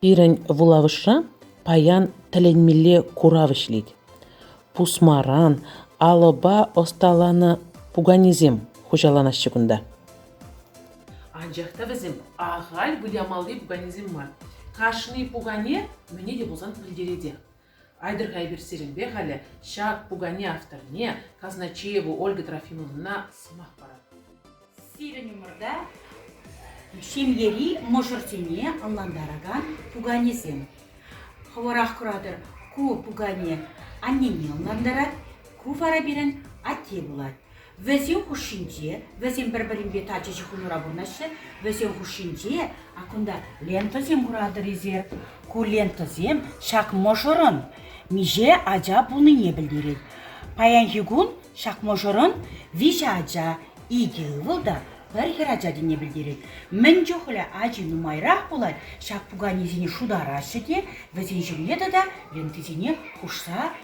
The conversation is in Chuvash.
Пирӗн вулавӑшра паян тӗлӗнмелле курав ӗҫлет. Пусмаран алӑпа ӑсталанӑ пуканесем хуҫаланаҫҫӗ кунта. Анчах та вӗсем ахаль вылямалли пуканесем мар. Кашни пукане мӗне те пулсан пӗлтеретех. Айтӑр-ха эпир сирӗнпе халӗ ҫак пукане авторне, Казначееву Ольга Трофимовнӑна, сӑмах паратпӑр. Сирӗн умӑрта ҫемьери мӑшӑрсене ӑнлантаракан пуканесем. Хӑвӑрах куратӑр, ку пукане аннене ӑнлантарать, ку вара пирӗн атте пулать. Вӗсен хушшинче, вӗсем пӗр-пӗринпе тачӑ ҫыхӑнура пурӑнаҫҫӗ, вӗсен хушшинче кунта лентӑсем куратӑр-и Ку лентӑсем ҫак мӑшӑрӑн миҫе ача пулнине пӗлтерет. Паянхи кун ҫак мӑшӑрӑн виҫӗ ача, икӗ ывӑл та пӗр хӗрача тенине пӗлтерет. Мӗн чухлӗ ачи нумайрах пулать, ҫак пуканесене шутараҫҫӗ те вӗсен ҫумне тата лентисене хушса